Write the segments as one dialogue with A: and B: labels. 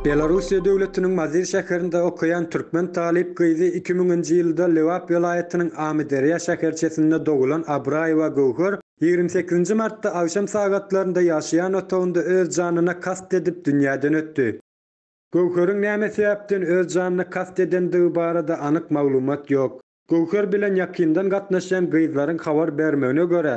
A: Belarussiýa döwletiniň Mazyr şäherinde okaýan türkmen talyp gyzy iki müňünji ýylda Lebap welaýatynyň Amyderýa şäherçesinde dogulan Abraýewa Göwher ýigrimi sekizinji martda agşam sagatlarynda ýaşaýan otagynda öz janyna kast edip dünýäden ötdi. Göwheriň näme sebäpden öz janyna kast edendigi barada anyk maglumat ýok. Göwher bilen ýakyndan gatnaşýan gyzlaryň habar bermegine görä,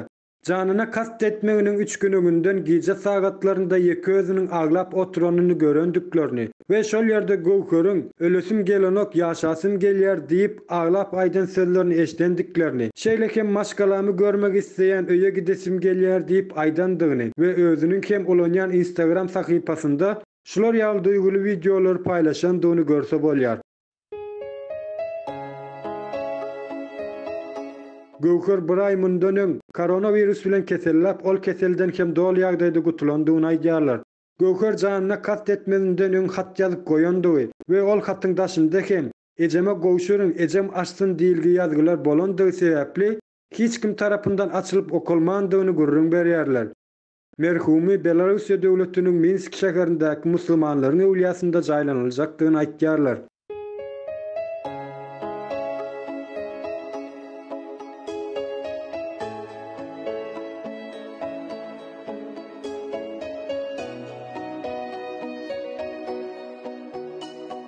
A: janyna kast etmeginiň üç gün öňünden gije sagatlarynda ýeke özüniň aglap oturanyny görendiklerini we şol ýerde Göwheriň Ölesim gelenok, ýaşasym gelýär diýip, aglap aýdan sözlerini eşidendiklerini, şeýle hem Maşgalamy görmek isleýän, öýe gidesim gelýär diýip aýdandygyny we özüniň hem ulanýan Instagram sahypasynda Şular ýaly duýguly wideolary paýlaşandygyny görse bolýar. Göwher bir aý mundan öň, koronawirus bilen keselläp, ol keselden hem doly ýagdaýda gutulandygyny aýdýarlar. Göwher janyna kast etmezinden öň hat ýazyp goýandygy we ol hatyň daşynda hem, Ejeme gowşuryň, ejem açsyn diýilgi ýazgylar bolandygy sebäpli, hiç kim tarapyndan açylyp okalmandygyny gürrüň berýärler. Merhumy Belarussiýa döwletiniň Minsk şäherindäki musulmanlaryň öwlýasynda jaýlanyljakdygyny aýtýarlar.